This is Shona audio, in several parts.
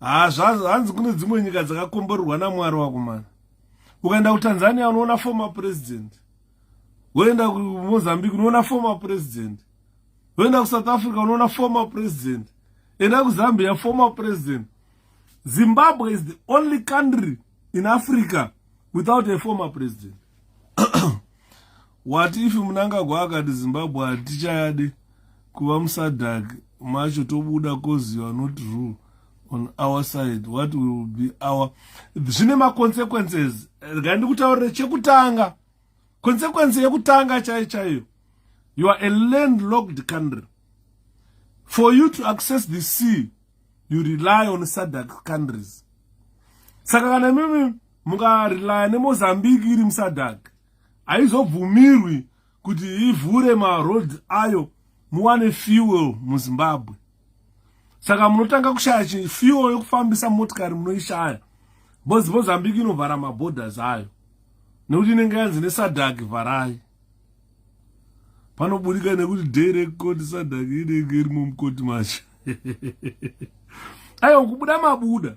haa zvazvo hanzi kune dzimwe nyika dzakakomborerwa namwari wakomana ukaenda kutanzania unoona former president woenda kumozambique unoona former president woenda kusouth africa unoona former president enda kuzambia former president zimbabwe is the only country in africa without a former president What if Mnangagwa akati Zimbabwe hatichayade kuva muSADC macho tobuda cause you are not rule on our side what will be our zvine maconsequences regai ndikutaurire chekutanga consequence yekutanga chaiyo chaiyo you are a landlocked country for you to access the sea you rely on SADC countries saka kana mimi mukarelya nemozambique iri muSADC haizobvumirwi kuti ivhure maroads ayo muwane fuel muzimbabwe saka munotanga kushaya chifuel yekufambisa motikari munoishaya bcoz mozambique inovhara maborders ayo nekuti inenge yanzi nesadak vharai panoburika nekuti day rekukoti sadak inenge irimo mukoti macho aiwa kubuda mabuda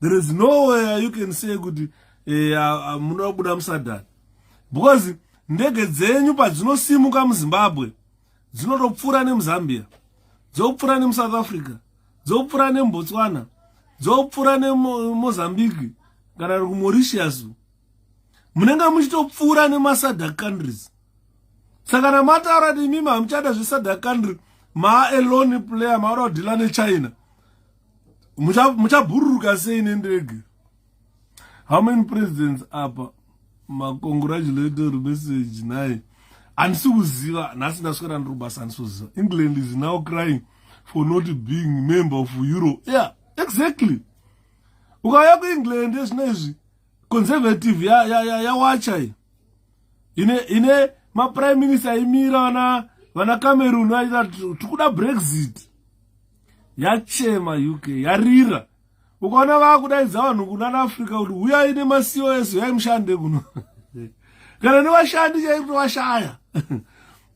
there is nowhere you can say kuti eh, munoda kubuda musadhani because ndege dzenyu padzinosimuka muzimbabwe dzinotopfuura nemuzambia dzopfuura nemusouth africa dzopfuura nembotswana dzopfuura nemozambique kana ri kumoritius munenge muchitopfuura nemasadak countries saka kana mataura kuti imimi hamuchada zvesadak country maa alone player maoda kudhila nechina muchabhururuka sei nendege how many presidents apa macongratulatory message naye handisi kuziva nhasi ndaswera ndiri kubasa handisi kuziva england is now crying for not being member of euro yeah exactly ukauya kuengland ezvino izvi conservative yawacha ya, ya, ya ine ine maprime minister aimira vana vana cameroon vaita tikuda brexit yachema uk yarira ukaona vakudaidza vanhu kunana africa kuti huyai nemasiwo ese huyai mushande kuno kana nevashandi chaikuti washaya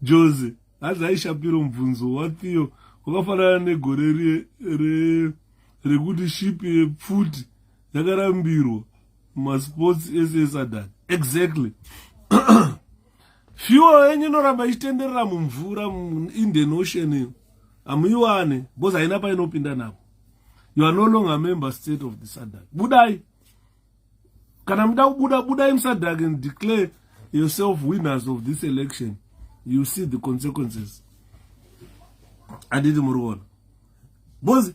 jose hanzi aishapiro mubvunzo wathiyo wakafanana negore re, re, rekuti ship yepfuti yakarambirwa masports ese esadad exactly fuel yenyu inoramba ichitenderera mumvura indian ocean iyo hamuiwane because haina painopinda napo you are no longer member state of the sadak budai kana muda kubuda budai musadak and declare yourself winners of this election you see the consequences anditi muri kuona because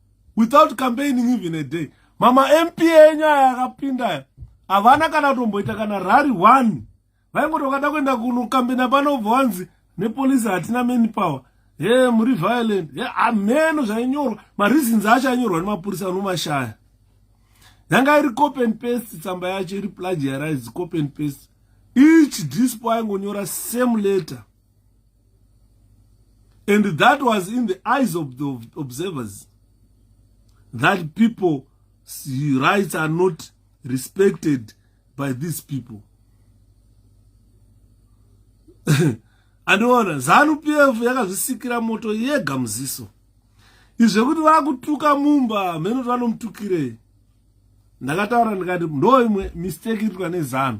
without campaigning even a day mama mp enyu aya akapinda aya havana kana kutomboita kana rari one vaingoti vakada kuenda kunokambena panobva wanzi nepolisi hatina many power he muri violent he hameno zvainyorwa mareasons acho ainyorwa nemapurisa anomashaya yanga iri copy and paste tsamba yacho iri plagiarize copy and paste each dispo aingonyora same letter And that was in the eyes of the observers that people's rights are not respected by these people. andiona zanu pf yakazvisikira moto yega muziso izvekuti vakutuka mumba mheno kuti vanomutukirei ndakataura ndikati ndoimwe mistake itwa nezanu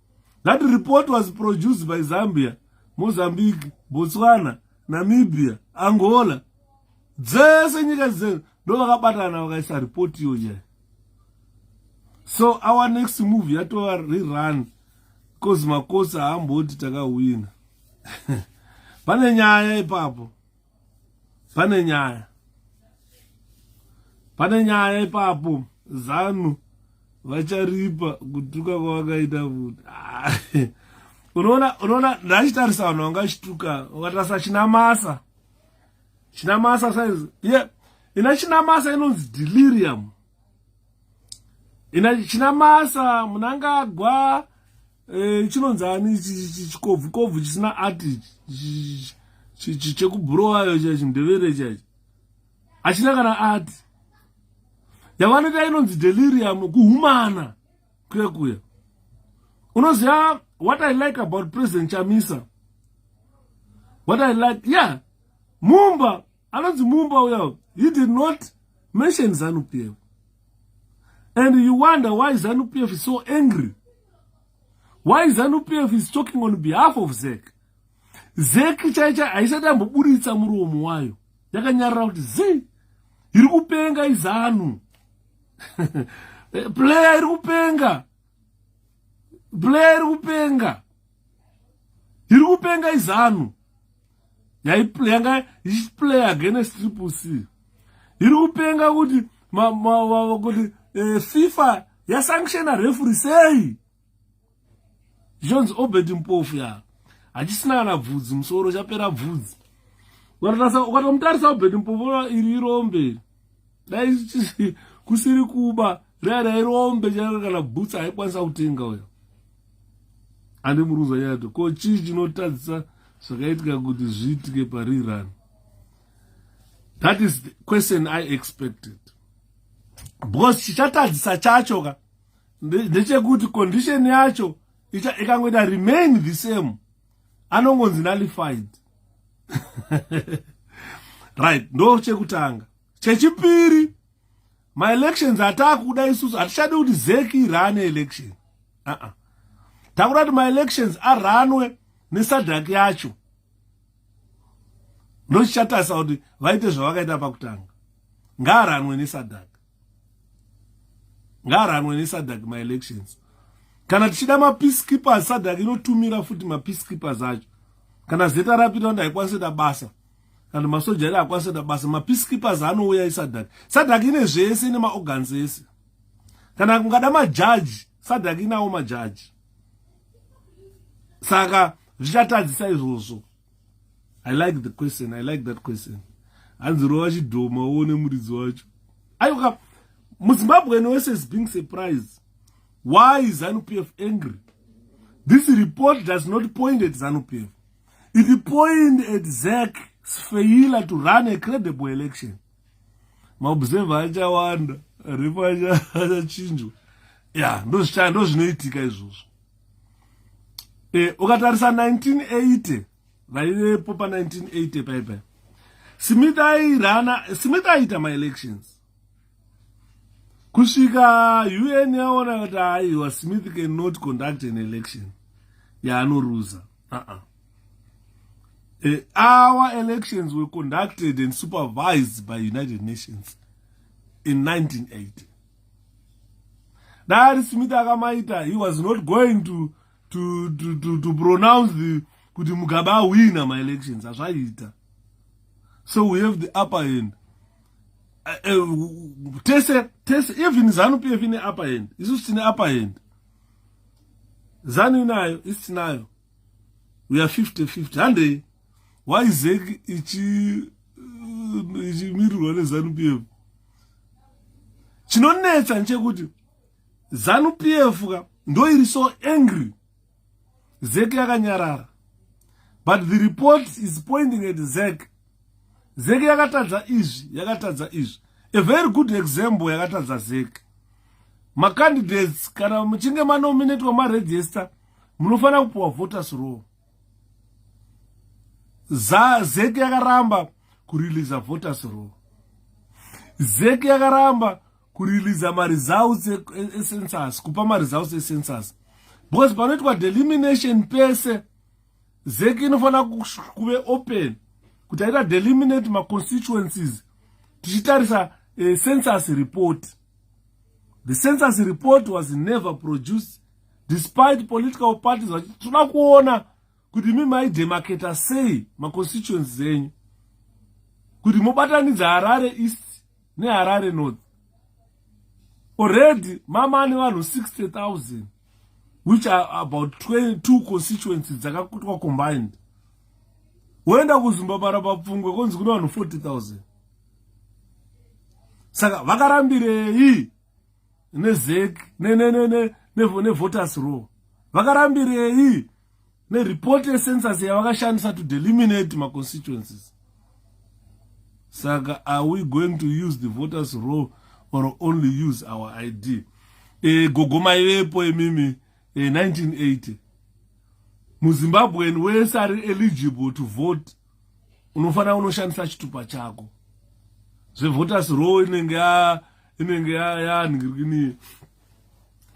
That report was produced by Zambia, Mozambique, Botswana, Namibia, Angola. Dzese nyika dzese ndo vakabatana vakaisa report iyo nyaya. So our next move yatova rerun because makosi haamboti takahwina. Pane nyaya ipapo. pane nyaya pane nyaya ipapo zanu vacharipa kutuka kwavakaita futi unoona unoona ndachitarisa vanhu vanga vachituka ukatarisa chinamasa chinamasa saizi ye yeah. ina chinamasa inonzi delirium ina chinamasa munangagwa Eh, chinonzi ani chikobvu kobvu chisina ati chekubhurowayo chaichi mdevere chaichi hachina kana ati yavanoita inonzi delirium kuhumana kuya kuya unoziva what i like about president chamisa what i like yeah mumba anonzi mumba uya he did not mention zanu p f and you wonder why zanu p f is so angry why zanu p f is talking on behalf of zek zek chaicha haisati amboburitsa muromo wayo yakanyarira kuti zii iri kupenga izanu player iri kupenga player iri kupenga iri kupenga izanu yanga ichiplay against triple c iri kupenga kuti kuti eh, fifa yasanctiona refuri sei zvichonzi obed mpofu ya hachisina kana bvudzi musoro chapera bvudzi ukatomutarisa obed mpofu iri irombe dai kusiri kuba dai rairombe chairo kana bhutsa haikwanisa kutenga uyo andi muruza yato ko chii chinotadzisa zvakaitika kuti zviitike parirani that is the question i expected because chichatadzisa chacho ka ndechekuti condition yacho ikangoita remain the same anongonzi nullified right ndo chekutanga chechipiri maelections ataakuda isusu hatichadi kuti zeki irane election uh -uh. takuda kuti maelections aranwe nesadhaki yacho ndochichatarisa kuti vaite zvavakaita pakutanga ngaaranwe nesadhaki ngaaranwe nesadak maelections kana tichida mapeacekeepers sadak inotumira futi mapeacekeepers acho kana zeta rapita kuti haikwanise da basa kana masoja iri hakwanise da basa mapeacekeepers anouya isadak sadak ine zvese ine maorgans ese kana kungada majaji sadak inawo majaji saka zvichatadzisa izvozvo i like the question i like that question hanzi rova chidhoma uone muridzi wacho ayoka muzimbabwean wese is being surprised why is zanupf angry this report does not point at zanupf it point at zak sfeila to run a credible election maobserver achawanda repo achachinjwa ya ndozvinoitika izvozvo eh, ukatarisa 1980 vaivepo pa 1980 paipai smith airana smith aiita maelections kusvika un yaona kuti aiwa smith cannot conduct an election yaanoruza a uh-uh. uh, our elections were conducted and supervised by united nations in 1980 dai ari smith akamaita he was not going to, to, to, to, to pronounce the kuti mugabe ahwina maelections azvaita so we have the upper hand uh, uh, tese tese even zanu pf ine upper hand isusu tine upper hand zanu inayo isitinayo we are 50 50 handei why zek ichi uh, ichimirirwa nezanu p f chinonetsa nchekuti zanu p f ka ndoiri so angry zek yakanyarara but the report is pointing at zek zek yakatadza izvi yakatadza izvi a very good example yakatadza zek macandidates kana muchinge manominatwa maregister munofanira kupiwa voters roll zek yakaramba kuriliza voters roll zek yakaramba kuriliza maresults e, e, ecensus kupa maresults ecensus because panoitwa delimination pese zek inofanira kuve open kuti aita deliminate maconstituencies tichitarisa uh, census report the census report was never produced despite political parties vachiti toda kuona kuti mi maidemaketa sei maconstituency enyu kuti mobatanidza harare east neharare north already mama ane vanhu 60 000 which are about 22 constituency dzakakutwa combined woenda kuzimbabara papfungwe konzi kune vanhu 40 000 saka vakarambirei nezec nevoters row vakarambirei nereport yecensus yavakashandisa to deliminate maconstituencies saka are we going to use the voters row or only use our id e, gogo maivepo imimi e, 1980 muzimbabwean wese ari eligible to vote unofanira unoshandisa chitupa chako zvevoters row inenge ya inenge ya ya ngirikini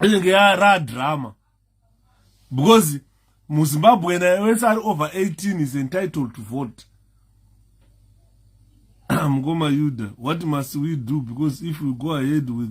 inenge ya ra drama because muzimbabwe naye wese ari over 18 is entitled to vote mukoma yuda what must we do because if we go ahead with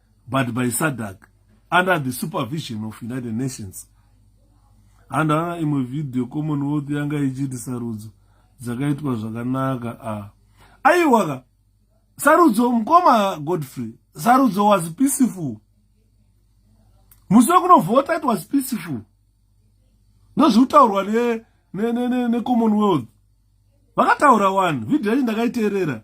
but by sadak under the supervision of united nations handaona imwe vhidhiyo commonwealth yanga ichiti sarudzo dzakaitwa zvakanaka a ah. aiwaka sarudzo mukoma godfrey sarudzo was peaceful musi wekunovhota it was peaceful ndozviri kutaurwa necommonwealth ne, ne, ne, ne vakataura one vhidhiyo yacho ndakaiteerera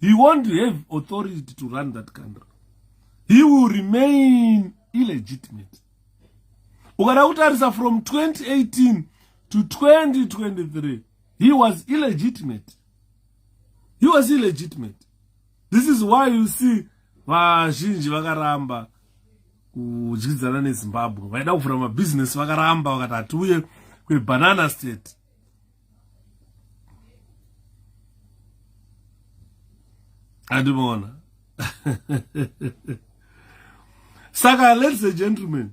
he won't have authority to run that country he will remain illegitimate ukada kutarisa from 2018 to 2023 he was illegitimate he was illegitimate this is why you see vazhinji vakaramba kudyidzana nezimbabwe vaida kuvhura mabhizinesi vakaramba vakati hatiuye kwebanana state andimona saka ladies and gentlemen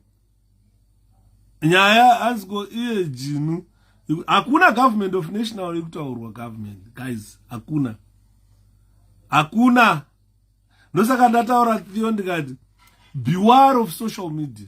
nyaya aziko iye jinu hakuna government of national yekutaurwa government guys hakuna hakuna ndosaka ndataura theo ndikati beware of social media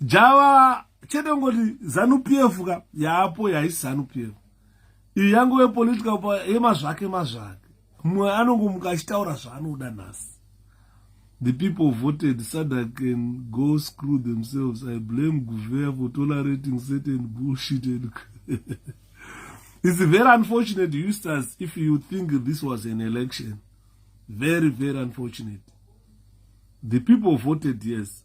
java chete ngoti zanu pf ka yaapo yaisi zanu pf iyi yangove political pa yemazvake mazvake mumwe anongomuka achitaura zvaanoda nhasi the people voted sada can go screw themselves i blame guvea for tolerating certain bullshit and it's very unfortunate eustace if you think this was an election very very unfortunate the people voted yes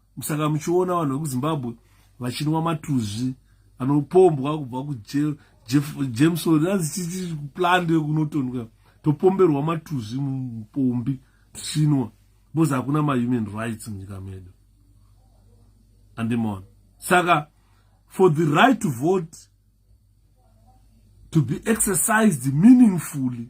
saka muchiona vanhu vekuzimbabwe vachinwa matuzvi anopombwa kubva kujameson azichiti plande yekunotonwa topomberwa matuzvi mupombi tichinwa because hakuna mahuman rights munyika medu andimona saka for the right to vote to be exercised meaningfully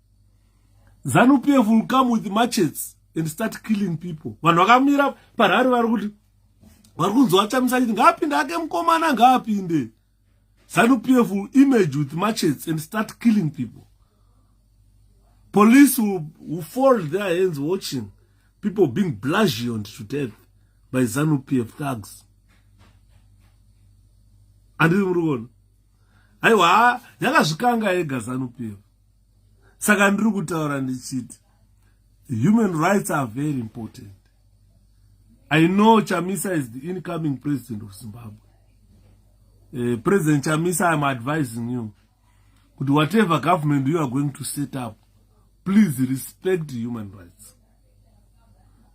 zanu pf will come with machets and start killing people vanhu vakamira parari vari kuti vari kunzi vachamisa chiti ngaapinde ake mukomana ngaapinde zanu pf will image with machets and start killing people police will, will fold their hands watching people being blasiond to death by zanu pf thugs andiri muri kuona aiwa yakazvikanga yega zanu pf saka ndiri kutaura ndichiti human rights are very important i know chamisa is the incoming president of zimbabwe uh, president chamisa iam advising you kuti whatever government you are going to set up please respect human rights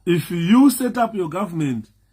if you set up your government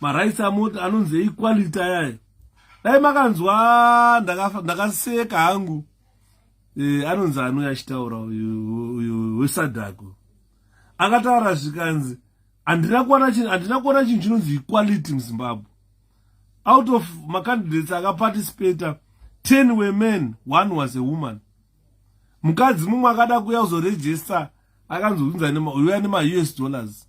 marights amoti anonzi equality ayayo dai makanzwa ndakaseka hangu e, anonzi anouya achitaura uyu wesadhako akataura zvikanzi handina kuona chinhu chinonzi equality muzimbabwe out of macandidates akaparticipata 10 wemen one was a woman mukadzi mumwe akada kuya kuzoregista akanzi unzaneuya nemaus dollars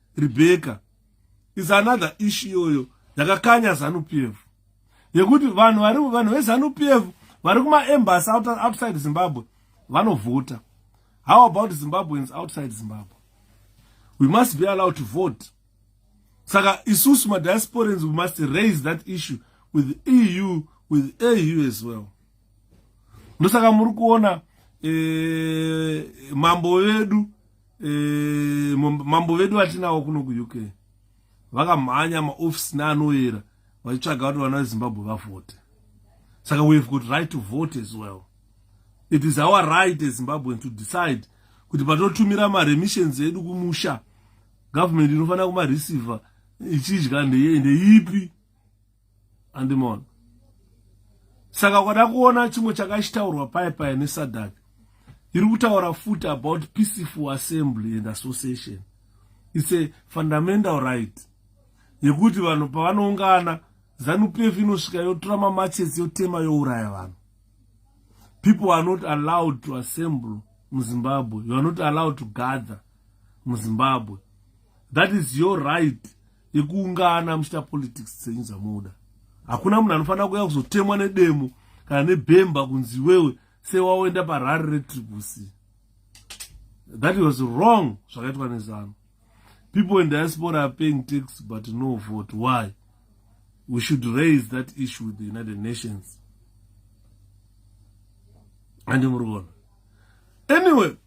rebecca is another issue iyoyo yakakanya zanu p f yekuti vanhu vari vanhu vezanu p f vari kumaembasy outside zimbabwe vanovhota how about zimbabweans outside zimbabwe we must be allowed to vote saka isusu madiasporans we must raise that issue with eu with au as well ndosaka muri kuona eh, mambo vedu e, mambo vedu vatinawo kuno kuuk vakamhanya maofisi neanoyera vachitsvaga kuti vana vezimbabwe vavhote saka we have got right to vote as well it is our right ezimbabwean to decide kuti patotumira maremissions edu kumusha government inofanira kumareceiver ichidya ndeipi andimona saka kwada kuona chimwe chakachitaurwa paye paye nesadak iri kutaura futi about peaceful assembly and association its a fundamental right yekuti vanhu pavanoungana zanupf inosvika yotora mamachesi yotema youraya vanhu people are not allowed to assemble muzimbabwe you are not allowed to gather muzimbabwe that is your right yekuungana muchiita politics dzenyu dzamunoda hakuna munhu anofanira kuuya kuzotemwa nedemo kana nebhemba kunzi iwewe sewaoenda parari retribusi that was wrong zvakaitwa nezano people in diaspora are paying tax but no vote why we should raise that issue with the united nations andimuri kuona anyway